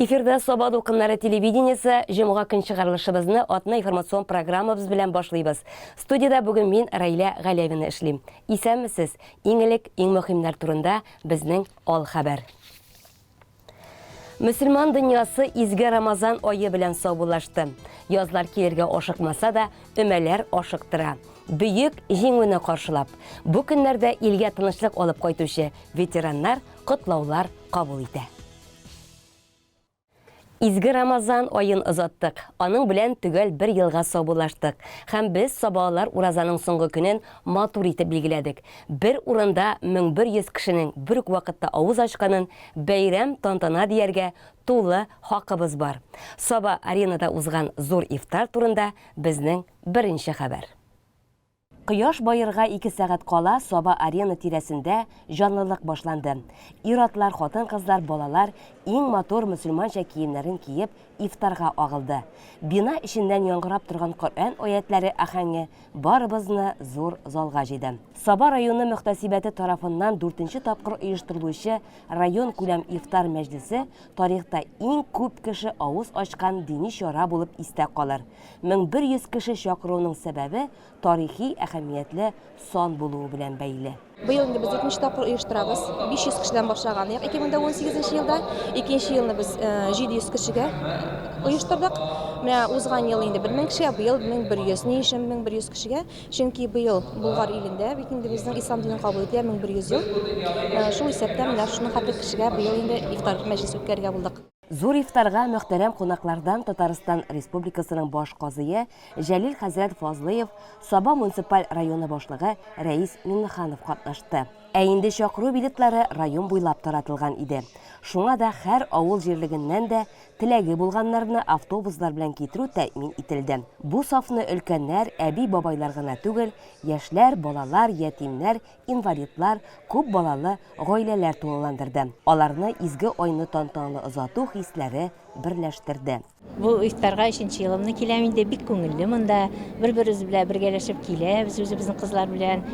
Эфирда Саба дулкыннары телевидениесе җомга көн чыгарылышыбызны атна информацион программабыз белән башлыйбыз. Студиядә бүген мин Раилә Галявина эшлим. Исәнмесез. Иң элек иң мөһимнәр турында безнең ал хәбәр. Мөселман дөньясы изге Рамазан айы белән саубуллашты. Язлар килергә ашыкмаса да, өмәләр ашыктыра. Бөек җиңүне каршылап, бу көннәрдә илгә тынычлык алып кайтучы ветераннар котлаулар кабул итә. Изге Рамазан аен озаттык, аның белән төгәл бер елга саубуллаштык һәм без сабаалар уразаның соңгы көнен матур итеп билгеләдек. Бер урында мең бер йөз кешенең бер үк вакытта авыз ачканын бәйрәм, тантана дияргә тулы хакыбыз бар. Саба-Аренада узган зур ифтар турында безнең беренче хәбәр. Кояш баерга ике сәгать кала Саба-Арена тирәсендә җанлылык башланды. Ир-атлар, хатын-кызлар, балалар иң матур мөселманча киемнәрен киеп, ифтарга агылды. Бина эченнән яңгырап торган Коръән аятьләре ахәңе барыбызны зур залга җыйды. Саба районы мөхтәсибәте тарафыннан дүртенче тапкыр оештырылучы районкүләм ифтар мәҗлесе тарихта иң күп кеше авыз ачкан дини чара булып истә калыр. 1100 кеше чакыруның сәбәбе тарихи әһәмиятле сан булуы белән бәйле. Быел инде без икенче тапкыр оештырабыз. 500 кешедән башлаган идек 2018 елда. Икенче елны без 700 кешегә оештырдык. Менә узган ел инде 1000 кешегә, быел 1100. Ни өчен 1100 кешегә? Чөнки быел Болгар илендә бит инде безнең ислам динен кабул итүгә 1100 ел. Шул исәптән менә шуның хәтле кешегә быел инде ифтар мәҗлесе үткәрергә булдык. Зур ифтарга мөхтәрәм кунаклардан Татарстан Республикасының баш казые Җәлил хәзрәт Фазлыев, Саба муниципаль районы башлыгы Рәис Миннеханов катнашты. Ә инде чакыру билетлары район буйлап таратылган иде. Шуңа да һәр авыл җирлегеннән дә теләге булганнарны автобуслар белән китерү тәэмин ителде. Бу сафны өлкәннәр, әби-бабайлар гына түгел, яшьләр, балалар, ятимнәр, инвалидлар, күп балалы гаиләләр тулыландырды, аларны изге айны тантаналы озату хисләре берләштерде. Бу ифтарга өченче елымны киләм инде, бик күңелле монда, бер-беребез белән бергәләшеп киләбез, үзебезнең кызлар белән.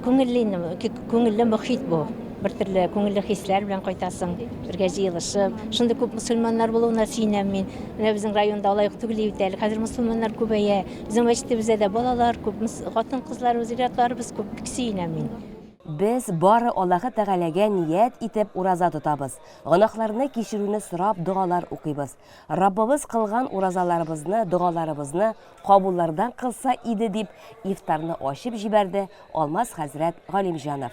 Күңелле инде, күңелле мохит бу, бертөрле күңелле хисләр белән кайтасың, бергә җыелышып. Шундый күп мөселманнар булуына сөенәм мин. Менә безнең районда алай ук түгел иде бит әле, хәзер мөселманнар күбәя. Безнең мәчетебездә дә балалар күп, хатын-кызларыбыз, ир-атларыбыз күп, бик сөенәм мин. Без бары Аллаһы Тәгаләгә ният итеп ураза тотабыз, гөнаһларны кичерүне сорап догалар укыйбыз. Раббыбыз кылган уразаларыбызны, догаларыбызны кабуллардан кылса иде, дип ифтарны ачып җибәрде Алмаз хәзрәт Галимҗанов.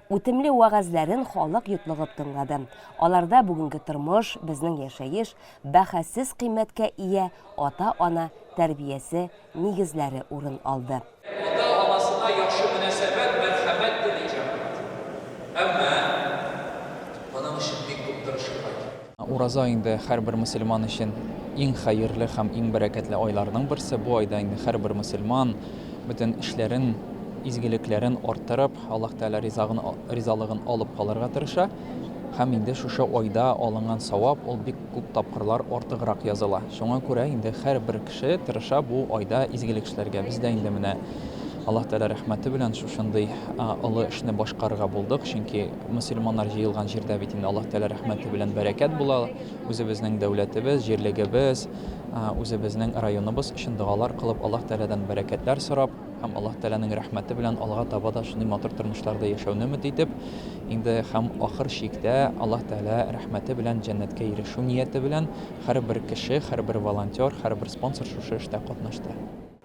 Үтемле вәгазьләрен халык йотлыгып тыңлады. Аларда бүгенге тормыш, безнең яшәеш, бәһасез кыйммәткә ия ата-ана тәрбиясе нигезләре урын алды. Ата-анасына яхшы мөнәсәбәт, мәрхәмәт тели җәмәгать. Әмма моның өчен бик күп тырышырга кирәк. Ураза инде һәрбер мөселман өчен иң хәерле һәм иң бәрәкәтле айларның берсе. Бу айда инде һәрбер мөселман бөтен эшләрен, изгелекләрен арттырып, Аллаһ Тәгалә ризагын, ризалыгын алып калырга тырыша. Һәм инде шушы айда алынган савап ул бик күп тапкырлар артыграк языла. Шуңа күрә инде һәрбер кеше тырыша бу айда изгелек эшләргә. Без дә инде менә Аллаһ Тәгалә рәхмәте белән шушындый олы эшне башкарырга булдык, чөнки мөселманнар җыелган җирдә бит инде Аллаһ Тәгалә рәхмәте белән бәрәкәт була, үзебезнең дәүләтебез, җирлегебез, үзебезнең районыбыз өчен догалар кылып, Аллаһ Тәгаләдән бәрәкәтләр сорап, Һәм Аллаһ Тәгаләнең рәхмәте белән алга таба да шундый матур тормышларда яшәүне өмет итеп, инде һәм ахыр чиктә Аллаһ Тәгалә рәхмәте белән җәннәткә ирешү нияте белән һәрбер кеше, һәрбер волонтер, һәрбер спонсор шушы эштә катнашты.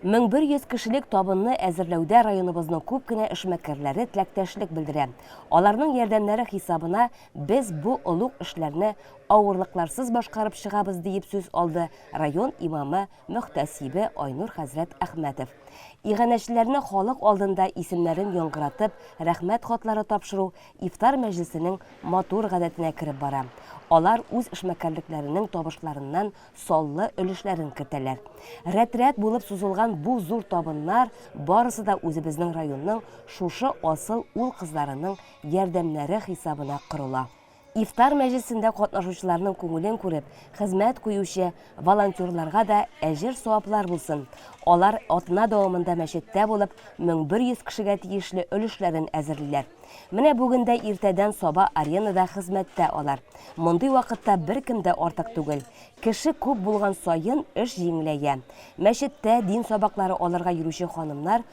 1100 кешелек табынны әзерләүдә районыбызның күп кенә эшмәкәрләре теләктәшлек белдерә. Аларның ярдәмнәре хисабына без бу олуг эшләрне авырлыкларсыз башкарып чыгабыз, диеп сүз алды район имамы Мөхтәсибе Айнур хәзрәт Әхмәтов иганәчеләрне халык алдында исемнәрен яңгыратып, рәхмәт хатлары тапшыру ифтар мәҗлесенең матур гадәтенә кереп бара. Алар үз эшмәкәрлекләренең табышларыннан саллы өлешләрен кертәләр. Рәт-рәт булып сузылган бу зур табыннар барысы да үзебезнең районның шушы асыл ул-кызларының ярдәмнәре хисабына корыла. Ифтар мәҗлесендә катнашучыларның күңелен күреп, хезмәт куючы волонтерларга да әҗер-саваплар булсын, алар атна дәвамында мәчеттә булып, 1100 кешегә тиешле өлешләрен әзерлиләр. Менә бүген дә иртәдән саба аренада хезмәттә алар. Мондый вакытта беркем дә артык түгел. Кеше күп булган саен, эш җиңеләя. Мәчеттә дин сабаклары алырга йөрүче ханымнар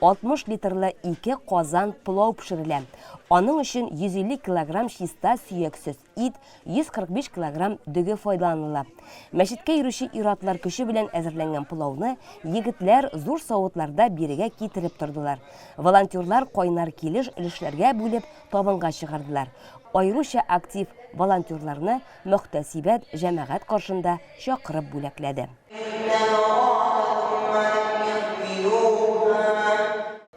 60 литрлы ике казан пылау пешерелә. Аның өчен 150 килограмм чиста сөяксез ит, 145 килограмм дөге файдаланыла. Мәчеткә йөрүче ир-атлар көче белән әзерләнгән пылауны егетләр зур савытларда бирегә китереп тордылар. Волонтерлар кайнар килеш өлешләргә бүлеп табынга чыгардылар. Аеруча актив волонтерларны Мөхтәсибәт җәмәгать каршында чакырып бүләкләде.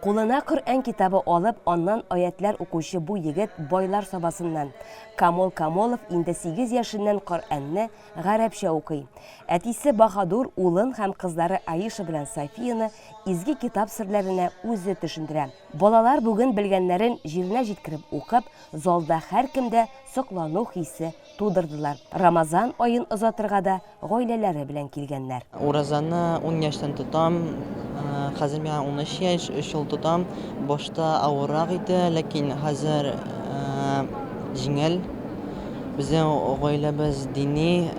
Кулына Коръән китабы алып, аннан аятьләр укучы бу егет байлар сабасыннан. Камол Камолов инде сигез яшеннән Коръәнне гарәпчә укый. Әтисе Баһадур улын һәм кызлары Аиша белән Софияны изге китап серләренә үзе төшендерә. Балалар бүген белгәннәрен җиренә җиткереп укып, Залда һәркемдә соклану хисе тудырдылар. Рамазан аен озатырга да гаиләләре белән килгәннәр. Уразаны ун яшьтән тотам. Хәзер миңа унөч яшь, өч ел тотам. Башта авыррак иде, ләкин хәзер җиңел. Безнең гаиләбез дини,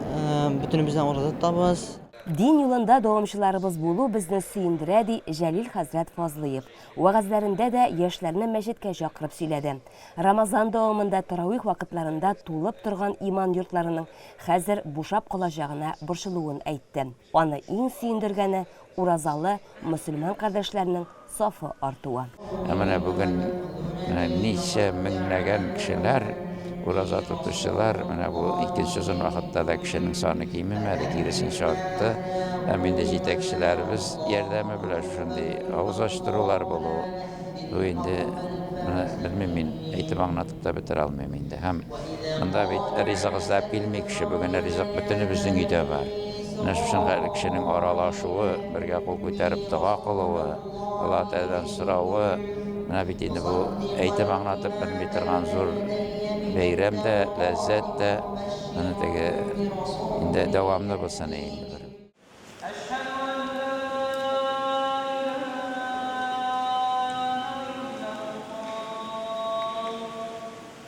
бөтенебез дә ураза тотабыз. Дин юлында дәвамчыларыбыз булу безне сөендерә, ди Җәлил хәзрәт Фазлыев. Вәгазьләрендә дә яшьләрне мәчеткә чакырып сөйләде. Рамазан дәвамында тарауих вакытларында тулып торган иман йортларының хәзер бушап калачагына борчылуын әйтте. Аны иң сөендергәне, уразалы мөселман кардәшләрнең сафы артуы. Ә менә бүген ничә меңләгән кешеләр Ураза тотучылар, менә бу икенче озын вакытта да кешенең саны кимемәде, киресенчә артты. Һәм инде җитәкчеләребез ярдәме белән шушындый авыз ачтырулар булу, бу инде, моны белмим мин, әйтеп аңлатып та бетерә алмыйм инде. Һәм монда бит ризык эзләп килми кеше, бүген ризык бөтенебезнең өйдә бар. Менә шушында кешенең аралашуы, бергә кул күтәреп дога кылуы. Аллаһы Тәгаләдән соравы, менә бит инде бу әйтеп аңлатып белми торган зур бәйрәм дә, ләззәт тә, моны теге инде дәвамлы булсын иде инде бер.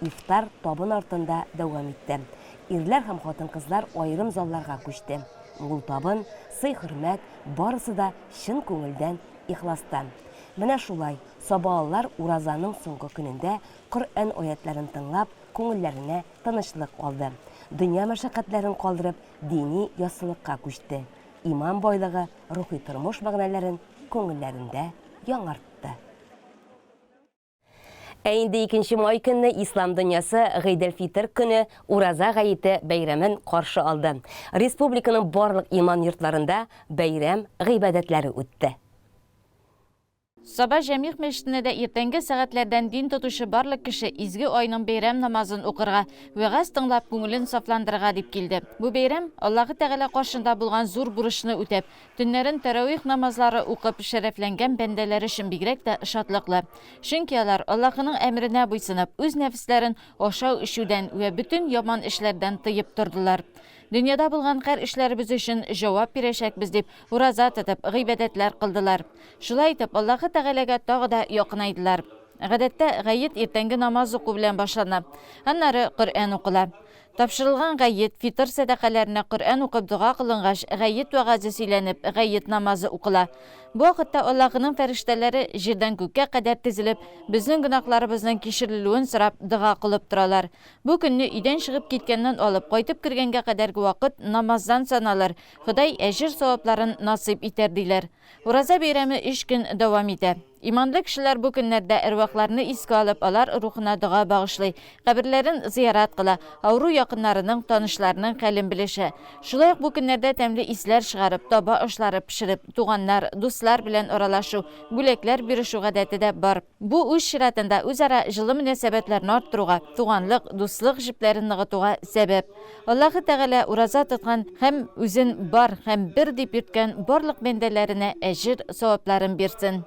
Ифтар табын артында дәвам итте. Ирләр һәм хатын-кызлар аерым залларга күчте. Мул табын, сый-хөрмәт, барысы да чын күңелдән, ихластан. Менә шулай, сабаалылар уразаның соңгы көнендә Коръән аятьләрен тыңлап, күңелләренә тынычлык алды. Дөнья мәшәкатьләрен калдырып, дини яссылыкка күчте. Иман байлыгы рухи тормыш мәгънәләрен күңелләрендә яңартты. Ә инде 2 май көнне ислам дөньясы Гыйдел-Фитр көне Ураза гаете бәйрәмен каршы алды. Республиканың барлык иман йортларында бәйрәм гыйбадәтләре үтте. Саба Җәмигъ мәчетенә дә иртәнге сәгатьләрдән дин тотучы барлык кеше изге айның бәйрәм намазын укырга, вәгазь тыңлап, күңелен сафландырырга дип килде. Бу бәйрәм, Аллаһы Тәгалә каршында булган зур бурычны үтәп, Төннәрен тәравих намазлары укып шәрәфләнгән бәндәләр өчен бигрәк тә шатлыклы. Чөнки алар, Аллаһының әмеренә буйсынып, үз нәфесләрен ашау-эчүдән вә бөтен яман эшләрдән тыеп тордылар. Дөньяда булган хәр эшләребез өчен җавап бирәчәкбез дип, ураза тотып, гыйбадәтләр кылдылар. Шулай итеп, Аллаһы Тәгаләгә тагы да якынайдылар. Гадәттә, гает иртәнге намаз уку белән башлана. Аннары Коръән укыла. Тапшырылган гает, фитыр сәдакаләренә Коръән укып дога кылынгач, гает вәгазе сөйләнеп, гает намазы укыла. Бу вакытта Аллаһының фәрештәләре, җирдән күккә кадәр тезелеп, безнең гөнаһларыбызның кичерелүен сорап, дога кылып торалар. Бу көнне өйдән чыгып киткәннән алып, кайтып кергәнгә кадәрге вакыт намаздан саналыр, Ходай әҗер-савапларын насыйп итәр, диләр. Ураза бәйрәме өч көн дәвам итә. Иманлы кешеләр бу көннәрдә әрвахларны искә алып, алар рухына дога багышлый, каберләрен зыярат кыла, авыру якыннарының, танышларының хәлен белешә. Шулай ук бу көннәрдә тәмле исләр чыгарып, таба ашлары пешереп, туганнар, дуслар белән аралашу, бүләкләр бирешү гадәте дә бар. Бу, үз чиратында, үзара җылы мөнәсәбәтләрне арттыруга, туганлык, дуслык җепләрен ныгытуга сәбәп. Аллаһы Тәгалә ураза тоткан һәм үзен бар һәм бер дип йөрткән барлык бәндәләренә әҗер, савапларын бирсен.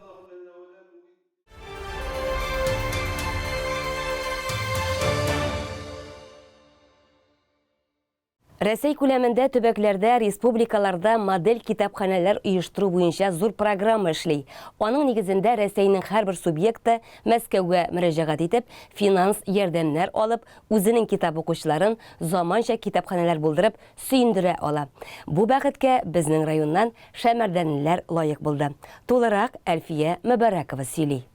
Рәсәй күләмендә төбәкләрдә, республикаларда модель китапханәләр оештыру буенча зур программа эшли. Аның нигезендә Рәсәйнең һәрбер субъекты, Мәскәүгә мөрәҗәгать итеп, финанс ярдәмнәр алып, үзенең китап укучыларын заманча китапханәләр булдырып, сөендерә ала. Бу бәхеткә безнең районнан шәмәрдәнлеләр лаек булды. Тулырак Әлфия Мөбарәкова сөйли.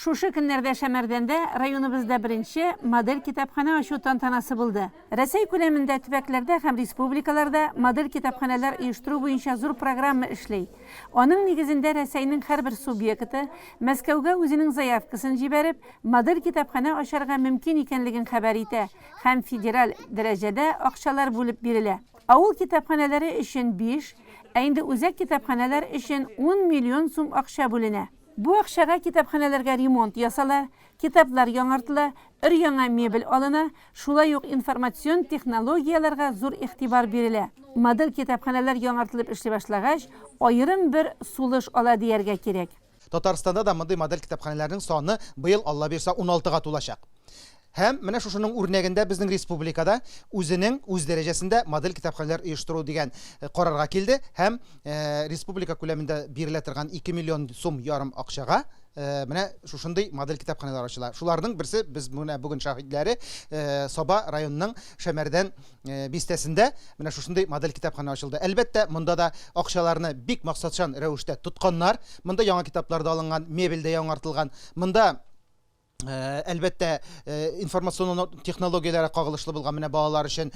Шушы көннәрдә Шәмәрдәндә районыбызда беренче Модель китапханә ачу тантанасы булды. Рәсәй күләмендә төбәкләрдә һәм республикаларда Модель китапханәләр оештыру буенча зур программа эшли. Аның нигезендә Рәсәйнең һәрбер субъекты, Мәскәүгә үзенең заявкасын җибәреп, Модель китапханә ачарга мөмкин икәнлеген хәбәр итә һәм федераль дәрәҗәдә акчалар бүлеп бирелә. Авыл китапханәләре өчен биш, ә инде үзәк китапханәләр өчен ун миллион сум акча бүленә. Бу акчага китапханәләргә ремонт ясала, китаплар яңартыла, өр-яңа мебель алына, шулай ук информацион технологияләргә зур игътибар бирелә. Модель китапханәләр яңартылып эшли башлагач, аерым бер сулыш ала дияргә кирәк. Татарстанда да мондый модель китапханәләрнең саны быел, Аллабирса, уналтыга тулачак. Һәм менә шушының үрнәгендә безнең республикада үзенең үз дәрәҗәсендә модель китапханәләр оештыру дигән карарга килде һәм республика күләмендә бирелә торган ике миллион сум ярым акчага менә шушындый модель китапханәләр ачыла. Шуларның берсе без менә бүген шаһитләре Саба районының Шәмәрдән бистәсендә менә шушындый модель китапханә ачылды. Әлбәттә, монда да акчаларны бик максатчан рәвештә тотканнар. Монда яңа китаплар да алынган, мебель дә яңартылган. Монда Әлбәттә, информацион технологияләргә кагылышлы булган менә балалар өчен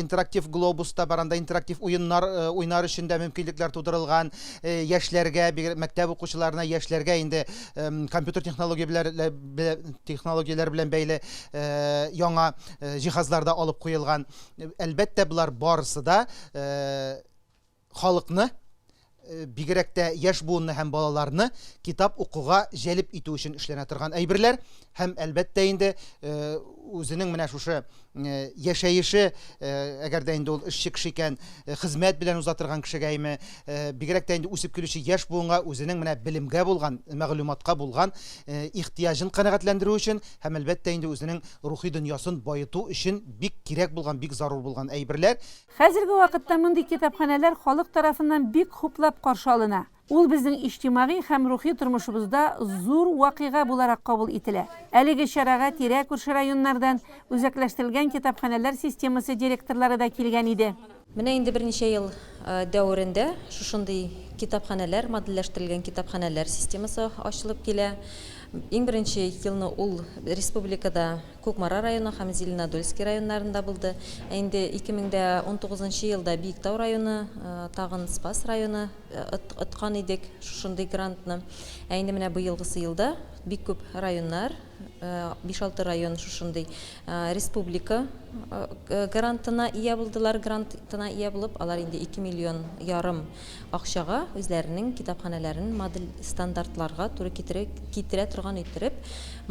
интерактив глобус та бар, анда интерактив уеннар уйнар өчен дә мөмкинлекләр тудырылган. Яшьләргә, бигрәк мәктәп укучыларына, яшьләргә инде компьютер технологияләре белән бәйле яңа җиһазлар да алып куелган. Әлбәттә, болар барысы да халыкны, бигрәк тә яшь буынны һәм балаларны китап укуга җәлеп итү өчен эшләнә торган әйберләр һәм әлбәттә инде үзенең менә шушы яшәеше әгәр дә инде ул эшче кеше икән хезмәт белән уза торган кешегәме бигрәк тә инде үсеп килүче яшь буынга үзенең менә белемгә булган мәгълүматка булган ихтыяҗын канәгатьләндерү өчен һәм әлбәттә инде үзенең рухи дөньясын баету өчен бик кирәк булган бик зарур булган әйберләр Хәзерге вакытта мондый китапханәләр халык тарафыннан бик хуплап каршы алына. Ул безнең иҗтимагый һәм рухи тормышыбызда зур вакыйга буларак кабул ителә. Әлеге чарага тирә-күрше районнардан үзәкләштерелгән китапханәләр системасы директорлары да килгән иде. Менә инде берничә ел дәверендә шушындый китапханәләр, модельләштерелгән китапханәләр системасы ачылып килә. Иң беренче елны ул республикада Кукмара районы һәм Зеленодольски районнарында булды. Ә инде 2019 нчы елда Биектау районы, тагын Спас районы откан идек шушындый грантны. Ә инде менә быелгысы елда бик күп районнар, биш-алты район шушындый республика грантына ия булдылар. Грантына ия булып, алар инде ике миллион ярым акчага үзләренең китапханәләрен модель стандартларга туры китерә китерә торган иттереп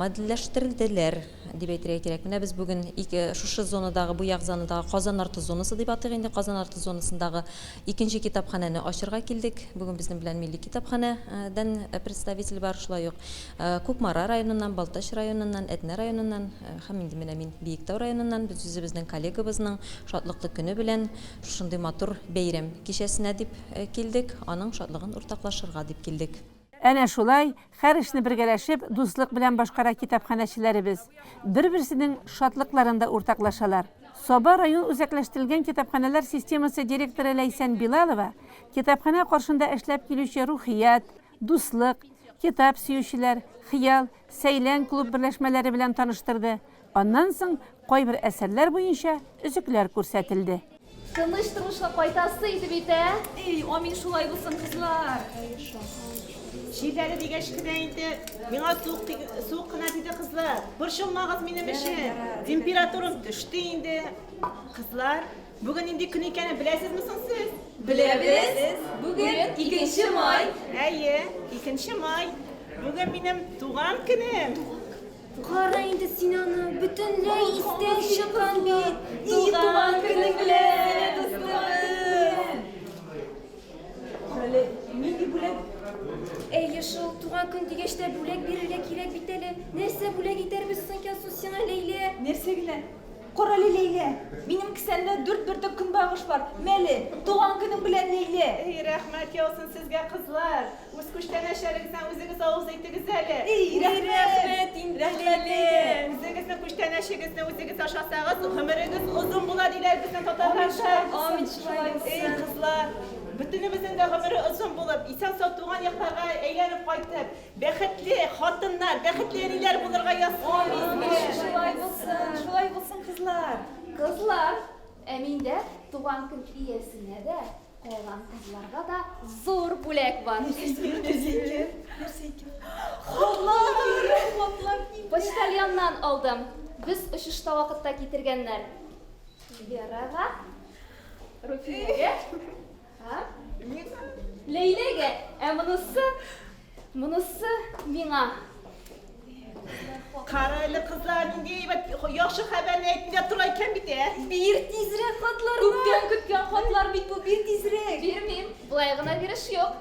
модельләштерделәр дип әйтергә кирәк. Менә без бүген ике шушы зонадагы, бу як зонадагы Казан арты зонасы дип атыйк инде, Казан арты зонасындагы икенче китапханәне ачырга килдек. Бүген безнең белән милли китапханә дән представитель бар, шулай ук Кукмара районыннан, Балтач районыннан, Әтнә районыннан һәм инде менә мин Биектау районыннан. Без үзебезнең коллегабызның шатлыклы көне белән Шушындый матур бәйрәм кичәсенә дип килдек, аның шатлыгын уртаклашырга дип килдек. Әнә шулай, хәр эшне бергәләшеп, дуслык белән башкара китапханәчеләребез. Бер-берсенең шатлыкларын да уртаклашалар. Саба район үзәкләштерелгән китапханәләр системасы директоры Ләйсән Билалова китапханә каршында эшләп килүче Рухият, Дуслык, Китап сөючеләр, Хыял, Сәйлән клуб берләшмәләре белән таныштырды, Аннан соң кайбер әсәрләр буенча өзекләр күрсәтелде. Тыныч тормышка кайтасы иде бит, ә? Эй, амин шулай булсын, кызлар! Җилләре дигәч кенә инде миңа суык суык кына диде кызлар. Борчылмагыз минем өчен. Температурам төште инде. Кызлар, бүген нинди көн икәнен беләсезме соң сез? Беләбез. Бүген 2 май. Әйе, 2 май. Бүген минем туган көнем. Кара инде син аны, бөтенләй истән чыккан бит! И туган көнең белән, дустыбыз! Әле нинди бүләк? Әйе шул, туган көн дигәч тә бүләк бирергә кирәк бит әле. Нәрсә бүләк итәрбез соң икән су сиңа, Ләйлә? Нәрсә генә? Карале, Ләйлә, минем кесәмдә дүрт бөртек көнбагыш бар. Мәле, туган көнең белән, Ләйлә! Ий, рәхмәт яусын сезгә, кызлар! Үз күчтәнәчләрегезне үзегез авыз итегез әле. Ий, рәхмәт инде, Ләйлә! Үзегезнең күчтәнәчегезне үзегез ашасагыз, гомерегез озын була, диләр безнең татарларда. Амин, шулай булсын. Эй, кызлар, бөтенебезнең дә гомере озын булып, исән-сау туган якларга әйләнеп кайтып, Бәхетле хатыннар, бәхетле әниләр булырга язсын! Амин! Шулай булсын, шулай булсын, кызлар! Кызлар, ә миндә туган көн иясенә дә, калган кызларга да зур бүләк бар. Нәрсә икән? Нәрсә икән? Хатлар! Хатлар килде. Почтальоннан алдым. Без очышта вакытта китергәннәр. Верага, Руфинәгә. А? Миңа. Ләйләгә, ә монысы, монысы миңа. Кара әле кызлар, нинди әйбәт, яхшы хәбәрне әйтергә тора икән бит, ә? Бир тизрәк хатларны. Күптән көткән хатлар бит бу, бир тизрәк. Бирмим, болай гына биреш юк.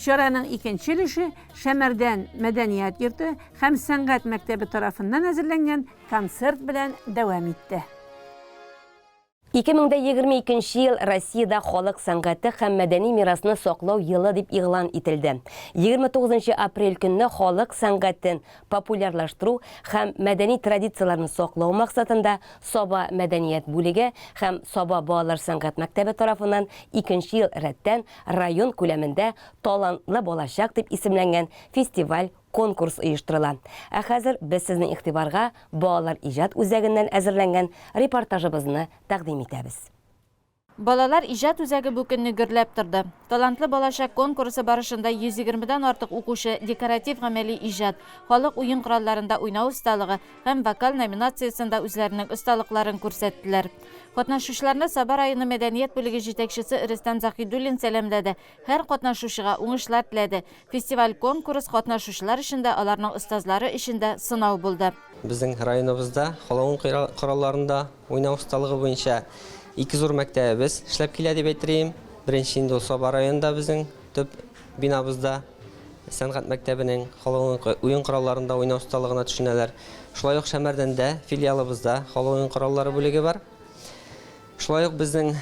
Чараның икенче өлеше Шәмәрдән мәдәният йорты һәм сәнгать мәктәбе тарафыннан әзерләнгән концерт белән дәвам итте. 2022 нче ел Россиядә халык сәнгате һәм мәдәни мирасны саклау елы дип игълан ителде. 29 нчы апрель көнне халык сәнгатен популярлаштыру һәм мәдәни традицияләрне саклау максатында Саба мәдәният бүлеге һәм Саба балалар сәнгать мәктәбе тарафыннан икенче ел рәттән Район күләмендә Талантлы балачак дип исемләнгән фестиваль, конкурс оештырыла. Ә хәзер без сезнең игътибарга Балалар иҗат үзәгеннән әзерләнгән репортажыбызны тәкъдим итәбез. Балалар иҗат үзәге бу көнне гөрләп торды. Талантлы балачак конкурсы барышында 120 дән артык укучы декоратив-гамәли иҗат, халык уен коралларында уйнау осталыгы, һәм вокаль номинациясендә үзләренең осталыкларын күрсәттеләр. Катнашучыларны Саба районы мәдәният бүлеге җитәкчесе Рөстәм Заһидуллин сәламләде, һәр катнашучыга уңышлар теләде. Фестиваль-конкурс катнашучылар өчен дә, аларның остазлары өчен дә сынау булды. Безнең районыбызда халыгың коралларында уйнау осталыгы буенча ике зур мәктәбебез эшләп килә дип әйтер идем. Беренче инде ул Саба районында безнең. Төп бинабызда сәнгать мәктәбенең, халыкның уен коралларында уйнау осталыгына төшенәләр. Шулай ук Шәмәрдәндә, филиалыбызда халык уен кораллары бүлеге бар. Шулай ук безнең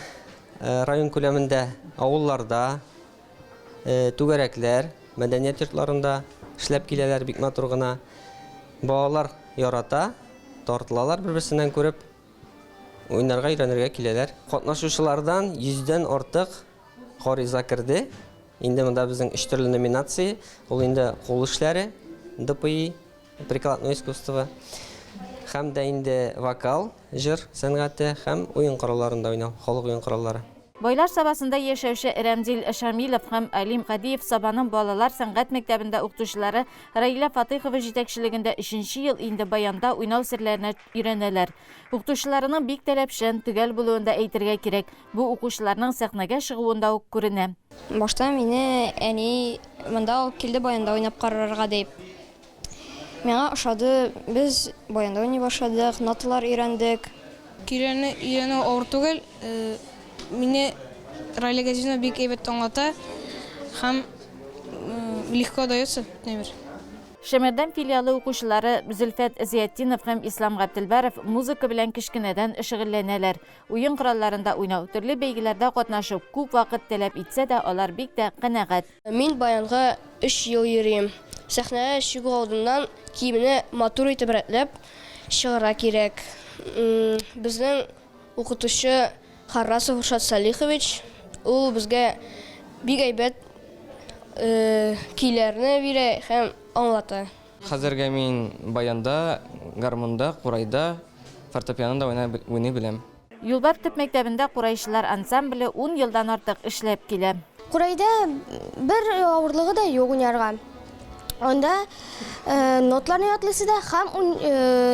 район күләмендә авылларда, түгәрәкләр, мәдәният йортларында эшләп киләләр бик матур гына. Балалар ярата, тартылалар бер-берсеннән күреп, уйнарга, өйрәнергә киләләр. Катнашучылардан йөздән артык Гариза керде. Инде монда безнең өч төрле номинация. Ул инде кул эшләре, ДПИ, прикладное искусство, һәм дә инде вокал, җыр сәнгате һәм уен коралларында уйнау, халык уен кораллары. Бойлар Сабасында яшәүче Рәмзил Шамилов һәм Алим Гадиев Сабаның балалар сәнгать мәктәбендә укытучылары Раилә Фатыйхова җитәкчелегендә өченче ел инде баянда уйнау серләренә өйрәнәләр. Укытучыларының бик таләпчән, төгәл булуын да әйтергә кирәк. Бу укучыларның сәхнәгә чыгуында ук күренә. Башта мине әни монда алып килде баянда уйнап карарга дип. Миңа ошады, без баянда уйный башладык, ноталар өйрәндек. Көйләрне өйрәнү авыр түгел. Мине Раилә Газизовна бик әйбәт аңлата һәм легко дается, әйтмә бир. Шәмәрдән филиалы укучылары Зөлфәт Зыятдинов һәм Ислам Габделбаров музыка белән кечкенәдән шөгыльләнәләр. Уен коралларында уйнау, төрле бәйгеләрдә катнашу күп вакыт таләп итсә дә, алар бик тә канәгать. Мин баянга өч ел йөрим. Сәхнәгә чыгу алдыннан киемне матур итеп рәтләп чыгарга кирәк. Безнең укытучы. Харрасов Рушат Салихович, ул безгә бик әйбәт көйләрне бирә һәм аңлата. Хәзергә мин баянда, гармунда, курайда, фортепианода уйный беләм. Юлбар төп мәктәбендә курайчылар ансамбле ун елдан артык эшләп килә. Курайда бер авырлыгы да юк уйнарга. Анда нотларны ятлыйсы да һәм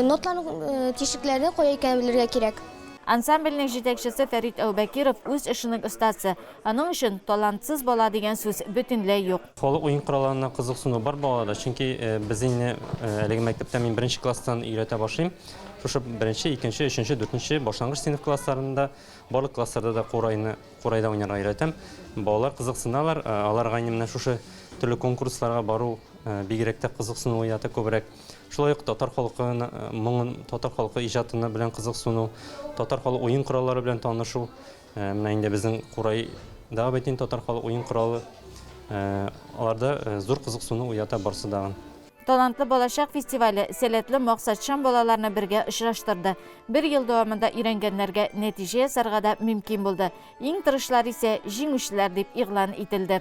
ноталарның тишекләре кая икәнен белергә кирәк. Ансамбльнең җитәкчесе Фәрит Әүбәкиров үз эшенең остасы, аның өчен талантсыз бала дигән сүз бөтенләй юк. Халык уен коралларына кызыксыну бар балаларда, чөнки безнене әлеге мәктәптә мин беренче класстан өйрәтә башлыйм. Шушы беренче, икенче, өченче, дүртенче, башлангыч сыйныф классларында, барлык классларда да курайны, курайда уйнарга өйрәтәм. Балалар кызыксыналар, аларга инде менә шушы төрле конкурсларга бару бигрәк тә кызыксыну уята күбрәк. Шулай ук татар халкы моңын, татар халкы иҗатына белән кызыксыну, татар халык уен кораллары белән танышу. Э, менә инде безнең курай да бит инде татар халык уен коралы. Э, аларда э, зур кызыксыну уята барсы дагын. Талантлы балачак фестивале сәләтле максатчан балаларны бергә очраштырды. Бер ел дәвамында өйрәнгәннәргә нәтиҗә ясарга да мөмкин булды. Иң тырышлар исә җиңүчеләр дип игълан ителде.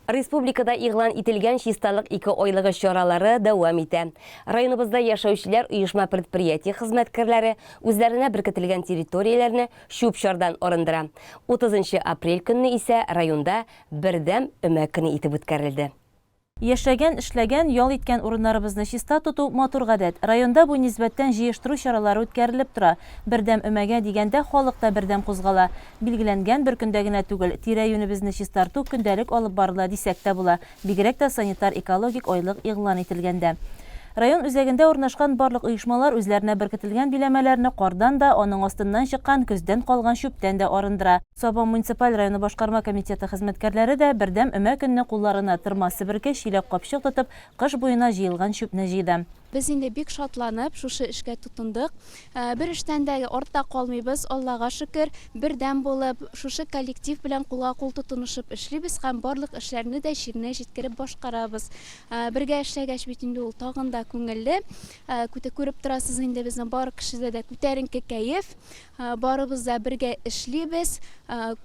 Республикада игълан ителгән Чисталык ике айлыгы чаралары дәвам итә. Районыбызда яшәүчеләр оешма-предприятие хезмәткәрләре үзләренә беркетелгән территорияләрне чүп-чардан арындыра. 30 нчы апрель көнне исә районда Бердәм өмә көне итеп үткәрелде. Яшәгән, эшләгән, ял иткән урыннарыбызны чиста тоту, матур гадәт. Районда бу нисбәттән җыештыру чаралары үткәрелеп тора. Бердәм өмәгә дигәндә халык та бердәм кузгала. Билгеләнгән бер көндә генә түгел, тирә-юнебезне чистарту көндәлек алып барыла дисәк тә була, бигрәк тә санитар-экологик айлык игълан ителгәндә. Район үзәгендә урнашкан барлык оешмалар үзләренә беркетелгән биләмәләрне кардан да, аның астыннан чыккан көздән калган чүптән дә арындыра. Сабан муниципаль районы башкарма комитеты хезмәткәрләре дә бердәм өмә көнне кулларына тырма-себерке, чиләк-капчык тотып, кыш буена җыелган чүпне җыйды. Без инде бик шатланып шушы эшкә тотындык. Бер эштән дә артта калмыйбыз, Аллага шөкер, бердәм булып, шушы коллектив белән кулга-кул тотынышып эшлибез һәм барлык эшләрне дә җиренә җиткереп башкарабыз. Бергә эшләгәч бит инде ул тагын да күңелле. Күреп торасыз инде, безнең бар кешедә дә күтәренке кәеф. Барыбыз да бергә эшлибез,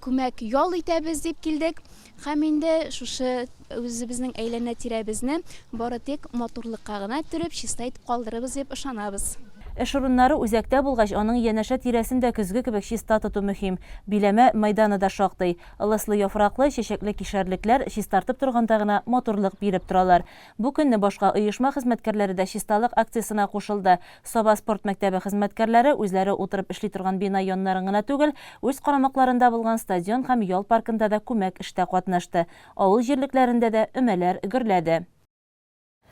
күмәк ял итәбез дип килдек. Һәм инде шушы үзебезнең әйләнә-тирәбезне бары тик матурлыкка гына төреп, чиста итеп калдырырбыз дип ышанабыз. Эш урыннары үзәктә булгач, аның янәшә тирәсен дә көзге кебек чиста тоту мөһим. Биләмә мәйданы да шактый. Ылыслы яфраклы, чәчәкле кишәрлекләр чистартып торганда гына матурлык биреп торалар. Бу көнне башка оешма хезмәткәрләре дә чисталык акциясенә кушылды. Саба спорт мәктәбе хезмәткәрләре үзләре утырып эшли торган бина яннарын гына түгел, үз карамакларында булган стадион һәм ял паркында да күмәк эштә катнашты, авыл җирлекләрендә дә өмәләр гөрләде.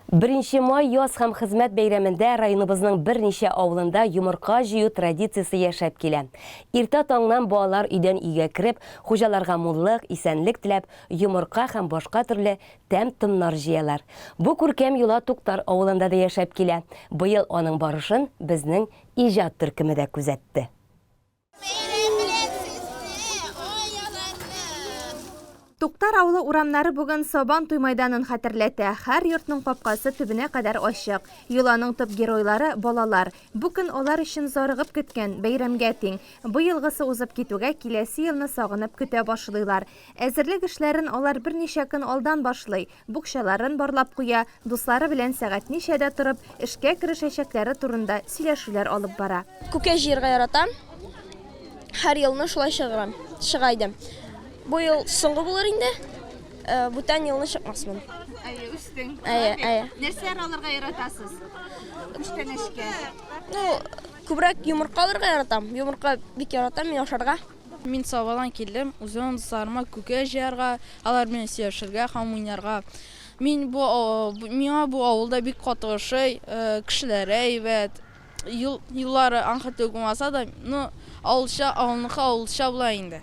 Беренче май яз һәм хезмәт бәйрәмендә районыбызның берничә авылында йомырка җыю традициясе яшәп килә. Иртә таңнан балалар өйдән өйгә кереп, хуҗаларга муллык, исәнлек теләп, йомырка һәм башка төрле тәм-томнар җыялар. Бу күркәм йола Туктар авылында да яшәп килә. Быел аның барышын безнең иҗат төркеме дә күзәтте. Туктар авылы урамнары бүген Сабан туй майданын хәтерләтә. Һәр йортның капкасы төбенә кадәр ачык. Йоланың төп геройлары, балалар. Бу көн алар өчен зарыгып көткән, бәйрәмгә тиң. Быелгысы узып китүгә, киләсе елны сагынып көтә башлыйлар. Әзерлек эшләрен алар берничә көн алдан башлый, букчаларын барлап куя, дуслары белән сәгать ничәдә торып, эшкә керешәчәкләре турында сөйләшүләр алып бара. Күккә җыярга яратам. Һәр елны шулай чыгам, чыга идем. Бу ел соңгы булыр инде. Бүтән елны чыкмасмын. Әйе, үстең. Әйе, әйе. Нәрсәләр алырга яратасыз? Күчтәнәчкә. Ну, күбрәк йомырка алырга яратам. Йомырка бик яратам мин ашарга. Мин Савадан килдем, үземнең дусларыма күкәй җыярга, алар белән сөйләшергә һәм уйнарга. Мин бу миңа бу авылда бик каты ошый, кешеләре әйбәт, юл юллары анха түгел булмаса да, ну, авылча, авылныкы авылча була инде.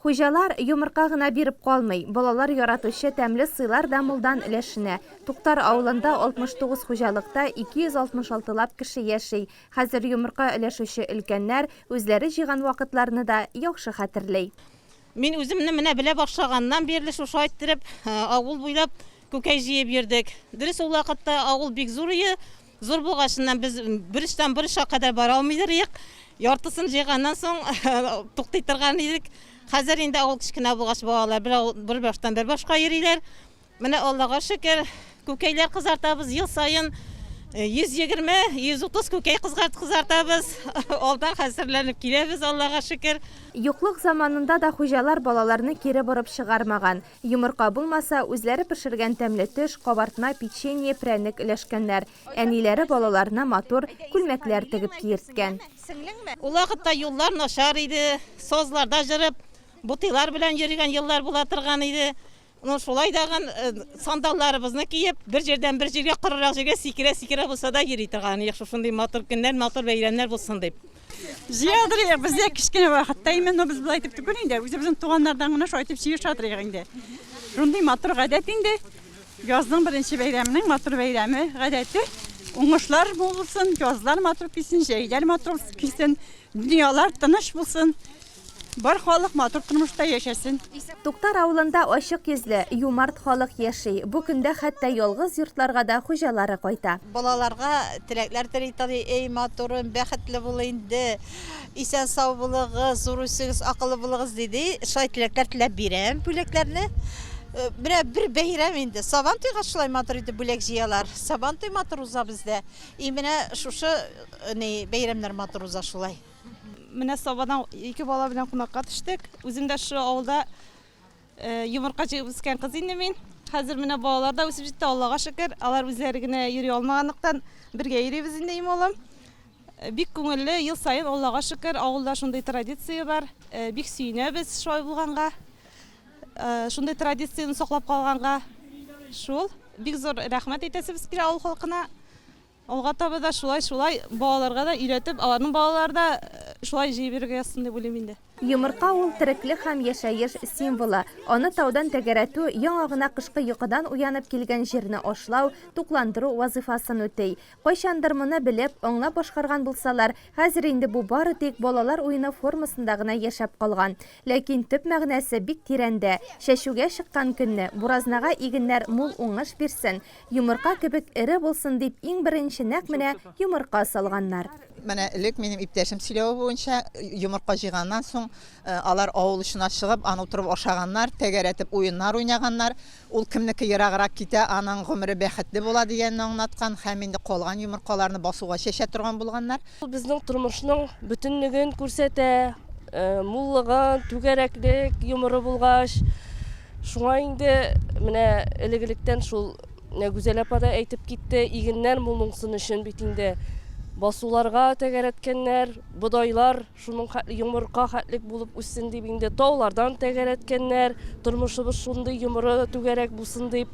Хуҗалар йомырка гына биреп калмый, балалар яратучы тәмле сыйлар да мулдан өләшенә. Туктар авылында 69 хуҗалыкта 266 лап кеше яши, Хәзер йомырка өләшүче өлкәннәр үзләре җыйган вакытларны да яхшы хәтерли. Мин үземне менә белә башлаганнан бирле шушы айттырып, авыл буйлап күкәй җыеп йөрдек. Дөрес, ул вакытта авыл бик зур иде. Зур булгачыннан без бер очтан бер очка кадәр бара алмый идек. Яртысын җыйганнан соң туктый торган идек. Хәзер инде авыл кечкенә булгач, балалар бер баштан бер башка йөриләр. Менә Аллага шөкер, күкәйләр кызартабыз ел саен 120-130 күкәй кызартабыз. Алдан хәзерләнеп киләбез, Аллага шөкер. Юклык заманында да хуҗалар балаларны кире борып чыгармаган. Йомырка булмаса, үзләре пешергән тәмле төш, кабартма, печенье, прәнек өләшкәннәр. Әниләре балаларына матур күлмәкләр тегеп киерткән. Ул вакытта юллар начар иде, сазларда җырып, ботыйлар белән йөргән еллар була торган иде. Ну шулай дагын сандалларыбызны киеп, бер җирдән бер җиргә корырак җиргә сикерә-сикерә булса да йөри торган идек, шушындый матур көннәр, матур бәйрәмнәр булсын дип. Җыя торыйк, без дә кечкенә вакытта именно без болай итеп түгел инде, үзебезнең туганнардан гына шулай итеп җыеша торыйк инде. Шундый матур гадәт инде. Язның беренче бәйрәменең матур бәйрәме, гадәте. Уңышлар булсын, язлар матур килсен, җәйләр матур килсен, дөньялар тыныч булсын. Бар халык матур тормышта яшәсен. Туктар авылында ачык йөзле, юмарт халык яши. Бу көндә хәтта ялгыз йортларга да хуҗалары кайта. Балаларга теләкләр тели Тали. Эй, матурым, бәхетле бул инде, исән-сау булыгыз, зур үсегез, акыллы булыгыз, ди, ди. Шулай теләкләр теләп бирәм бүләкләрне. Менә бер бәйрәм инде. Сабан туйга шулай матур итеп бүләк җыялар. Сабан туй матур уза бездә. И менә шушы ни бәйрәмнәр матур уза шулай. Менә Сабадан ике бала белән кунакка төштек. Үзем дә шул авылда йомырка җыеп үскән кыз инде мин. Хәзер менә балалар да үсеп җитте, Аллага шөкер. Алар үзләре генә йөри алмаганлыктан, бергә йөрибез инде им улым. Бик күңелле, ел саен Аллага шөкер, авылда шундый традиция бар. Бик сөенәбез шулай булганга. Шундый традицияне саклап калганга. Шул. Бик зур рәхмәт әйтәсебез килә авыл халкына. Алга таба да шулай, шулай балаларга да өйрәтеп, аларның балалары да шулай җыеп йөрергә язсын дип уйлыйм инде. Йомырка ул, тереклек һәм яшәеш символы. Аны таудан тәгәрәтү, яңа гына кышкы йокыдан уянып килгән җирне ашлау, тукландыру вазыйфасын үти. Кайчандыр моны белеп, аңлап башкарган булсалар, хәзер инде бу бары тик балалар уены формасында гына яшәп калган. Ләкин төп мәгънәсе бик тирәндә. Чәчүгә чыккан көнне, буразнага игеннәр мул уңыш бирсен, Йомырка кебек эре булсын дип иң беренче нәкъ менә йомырка салганнар. Менә элек минем иптәшем сөйләве буенча, йомырка җыйганнан соң, алар авыл очына чыгып, аны утырып ашаганнар, тәгәрәтеп уеннар уйнаганнар. Ул кемнеке ераграк китә, аның гомере бәхетле була дигәнне аңлаткан һәм инде калган йомыркаларны басуга чәчә торган булганнар. Ул безнең тормышның бөтенлеген күрсәтә, муллыгын, түгәрәклек йомыры булгач. Шуңа инде менә элек-электән шул Гүзәл апа да әйтеп китте, игеннәр муллыксын өчен бит инде басуларга тәгәрәткәннәр, бодайлар шуның йомырка хәтлек булып үссен дип инде таулардан тәгәрәткәннәр, тормышыбыз шундый йомыры түгәрәк булсын дип.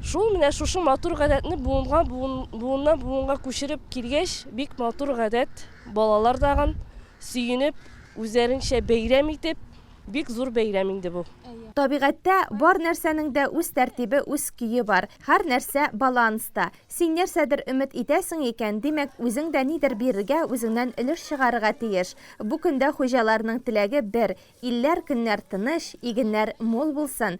Шул менә шушы матур гадәтне буынга буын, буыннан буынга күчереп килгәч, бик матур гадәт, балалар тагын сөенеп, үзләренчә бәйрәм итеп, бик зур бәйрәм инде бу. Табигатьтә бар нәрсәнең дә үз тәртибе, үз көе бар. Һәр нәрсә баланста. Син нәрсәдер өмет итәсең икән, димәк, үзең дә нидер бирергә, үзеңнән өлеш чыгарырга тиеш. Бу көндә хуҗаларның теләге бер, илләр, көннәр тыныч, игеннәр мул булсын,